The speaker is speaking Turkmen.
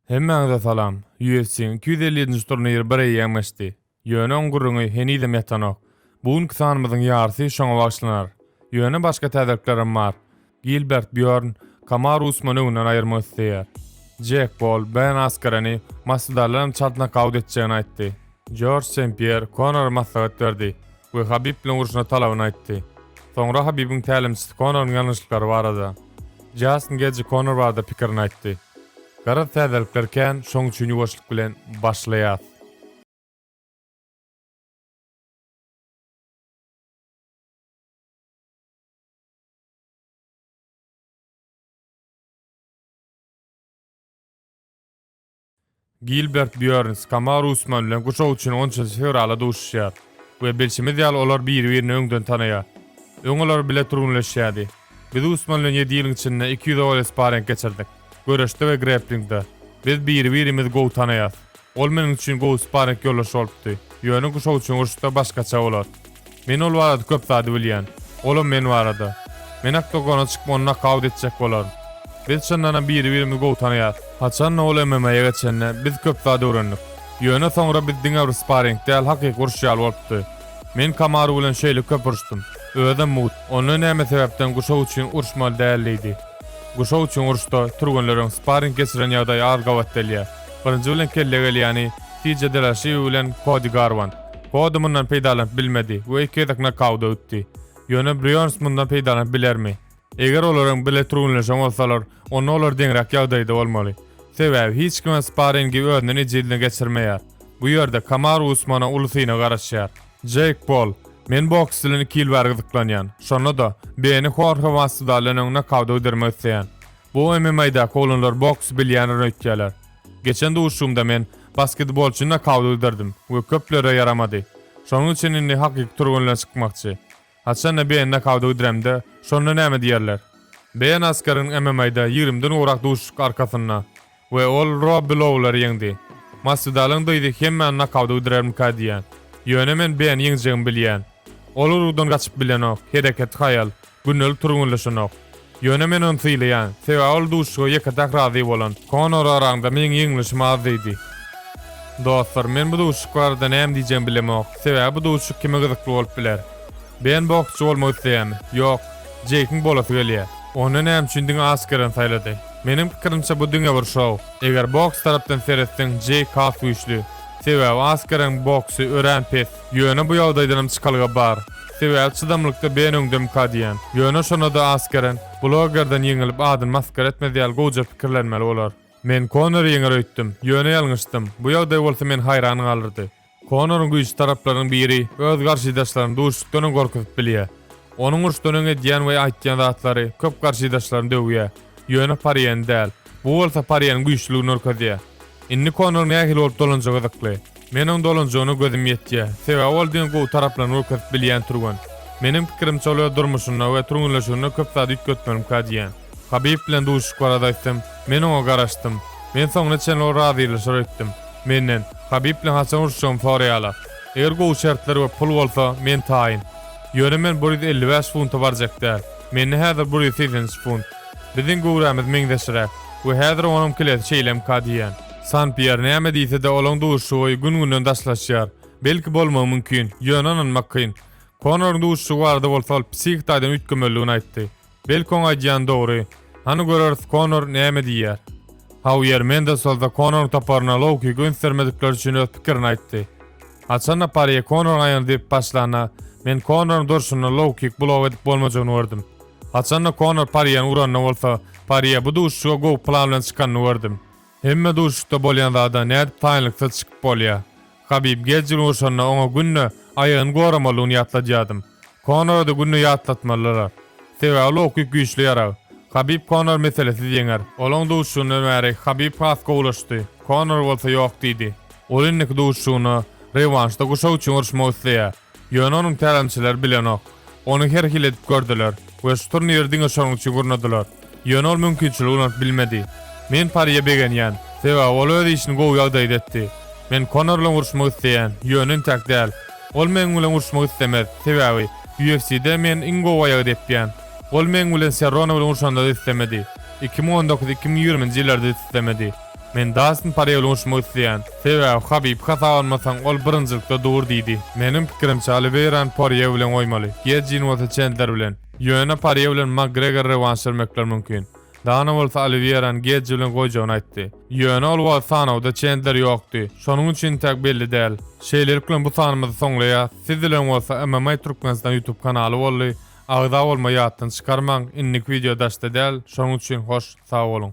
Hemmäňize salam! UFC-iň iki ýüz elli ýedinji turniri bir eýýäm geçdi. Ýöne oň gürrüňi henizem ýatanok. Bu günki sanymyzyň ýarysy şoňa bagyşlanar. Ýöne başga täzeliklerem bar. Gilbert Býorn Kamaru Usmany öňünden aýyrmak isleýär. Jek Pol Ben Askereni masvidaldan hem çalt nokaut etjegini aýtdy. Jorj Sen-Pýer Konora maslahat berdi. we Habib bilen urşuna talabyny aýtdy. Soňra Habibiň tälimçisi Konoryň ýalňyşlyklary barada, Jastin Gejji Konor barada pikirini aýtdy. Garaz täzelikler kän, şoň üçin ýuwaşlyk bilen başlaýas. Gilbert Býörns Kamaru Usman bilen guşak üçin onunjy fewrala duşuşýar we bilşimiz ýaly olar biri-birini öňden tanaýar. Öň olar bile türgenleşýärdi. Biz Usman bilen ýedi ýylyň içinde iki ýüz owal sparring geçirdik. Göreşde we grepplingde. Biz biri-birimizi gowy tanaýas. Ol meniň üçin gowy sparring ýoldaş bolupdy. Ýöne guşak üçin uruşda başgaça bolar. Men ol barada köp zady bilýän. Olam men barada. Men oktagona çykyp ony nokaut etjek bolaryn. Biz çyndanam biri-birimizi gowy tanaýarys. Haçanda ol MMA-ýa geçende, biz köp zat öwrendik. Ýöne soňra biz diňe bir sparing däl, hakyky urşy ýaly bolupdy. Men Kamaru bilen şeýle köp urşdum. Özem mugt. Onda näme sebäpden guşak üçin urşmaly däl diýdi. Guşak üçin uruşda, türgenleriň sparing geçiren ýagdaýy az gabat delýär. Birinji bilen kelle gelýäni, TJ Delaşiýew bilen Kodi Garwant. Kody mundan peýdalanyp bilmedi we iki gezek nokauta ötdi. Ýöne Brýons mundan peýdalanyp bilermi? Eger olaryň bile türgenleşen bolsalar, onda olar deňräk ýagdaýda bolmaly. Sebäbi hiç kime sparringi özünden ejizine geçirmeýär. Bu ýerde Kamaru Usmana uly synag garaşýar. Jeýk Pol, Men boks bilen iki ýyl bäri gyzyklanýan. Şonda-da, Beni Horhe Masvidaldan öň nokauta gidirmek isleýän. Bu MMA-daky oglanlar boksy bilýändir öýtýärler. Geçen duşuşygymda men basketbolçy nokauty giderdim we köplere ýaramady. Şonuň üçin indi hakyky türgenler çykmakçy. Haçanda BN nokauty gidiremde, şonda näme diýerler? BN Askaryň MMA-da ýigrimiden gowrak duşuşyk arkasynda we ol Robbi Loulary ýeňdi. Maswidalyň dyzy hemmäni nokauty gidirermikä diýýän. Ýöne men BN-i ýeňjegimi bilýän. Ol urugdan gaçyp bilenok, hereketi haýal. Gündelig türgenleşenok. Ýöne men ony sylaýan, sebäbi ol duşuşyga ýeke-täk razy bolan. Konor araňda meň ýeňlişim az diýdi. Dostlar, men bu duşuşyk barada näme diýjegimi bilemok, sebäbi bu duşuşyk kime gyzykly bolup biler? Ben boksçy bolmak isleýärmi? Ýok. Jeýkiň bolasy gelýär. Onda näme üçin diňe Askeren saýlady? Meniň pikirimçe bu diňe bir şou. Eger boks tarapdan seretseň Jeýk has güýçli. Sebäbi Askereň boksy örän pes. Ýöne bu ýagdaýdanam çykalga bar. Sebäbi çydamlykda ben öňdemka diýýän. Ýöne şonada Askeren, blogerden ýeňilip adyny masgara etmez ýaly gowja pikirlenmeli bolar. Men Konori ýeňer öýtdüm, ýöne ýalňyşdym. Bu ýagdaý bolsa meni haýran galdyrdy. Konoryň güýçli taraplarynyň biri öz garşydaşlaryny duşuşykdan öň gorkuzyp bilýär. Onuň uruşdan öň edýän we aýtýan zatlary köp garşydaşlaryny döwýär. Ýöne Pariýeni däl. Bu bolsa Pariýeniň güýçlüligini görkezýär. Indi Konor nähili bolup dolanjagy gyzykly. Men oň dolanjagyna gözüm ýetýä. Sebäbi ol diňe gowy taraplaryny görkezip bilýän türgen. Meniň pikirimçe ol öz durmuşynda we türgenleşiginde köp zady üýtgetmelimkä diýýän. Habib bilen duşuşyk barada aýtsam, men oňa garaşdym. Men soňuna çenli ol razylaşar öýtdüm. Menden, Habib bilen haçan uruşjagymy soraýala. Eger gowy şertler we pul bolsa, men taýyn. Ýöne men bir ýüz elli bäş funta barjak däl. Mende häzir bir ýüz segsen üç funt. Biziň göwrämiz meňzeşräk we häzir onuň kilesi şeýlemkä diýýän. San Pýer näme diýse-de, olaň duşuşygy gün-günden daşlaşýar. Belki bolmagy mümkin, ýöne ynanmak kyn. Konoryň duşuşygy barada bolsa ol psihik taýdan üýtgemelidigini aýtdy. Belki oň aýdýany dogry. Hany göreris Konor näme diýýär. Hauier Mendes bolsa Konoryň toparyna low-kick gönçdermedikleri üçin öz pikirini aýtdy. Haçan-da Parýe Konoryň aýagyny depip başlanda, men Konoryň durşunda low-kick blow edip bolmajagyny gördüm. Haçan-da Konor Parýäni uranda bolsa, Parýe bu duşuşyga gowy plan bilen çykanyny gördüm. Hemme duşuşda bolýan zada nädip taýynlyksyz çykyp bolýa. Habib gecil urşanda oňa günde aýagyny goramalygyny ýatladýadym. Konora-da günde ýatlatmalylar. Sebäbi Loukik güýçli ýarag. Habib Konor meselesiz ýeňer. Olaň duşuşygyndan bäri Habib has gowulaşdy. Konor bolsa ýok diýdi. Ol indiki duşuşygyna, rewanşda guşak üçin uruşmak isleýä. Ýöne onuň tälimçileri bilenok. Ony her hili edip gördüler we şu turniri diňe şonuň üçin gurnadylar. Ýöne ol mümkinçiligi ulanyp bilmedi. Men Parýe begenýän, sebäbi ol öz işini gowy ýagdaýda etdi. Men Konor bilen uruşmak isleýän, ýöne intäk däl. Ol meniň bilen uruşmak islemez, sebäbi UFC-de men iň gowy aýagy depýän. Ol meniň bilen Serrone bilen urşanda-da islemedi. Iki müň on dokuz, iki müň ýigrimi nji ýyllarda-da islemedi. Men Dastin Porýe bilen urşmak isleýän. Sebäbi Habib hasap almasaň, ol birinjilikde dur diýdi. Meniň pikirimçe, Oliweýrany Porýe bilen goýmaly, Gejini bolsa Çendler bilen. Ýöne Porýe bilen Makgregora rewanş bermekler mümkin. Dana bolsa Oliweýrany Geji bilen goýjagyny aýtdy. Ýöne ol wagt sanawda Çendler ýokdy. Şonuň üçin entäk belli däl. Şeýlelik bilen bu sanymyzy soňlaýas. Siz bilen bolsa MMA Türkmenistan YouTube kanaly boldy. Agza bolma ýatdan çykarmaň. Indiki wideo daşda däl. Şonuň üçin hoş, sag boluň.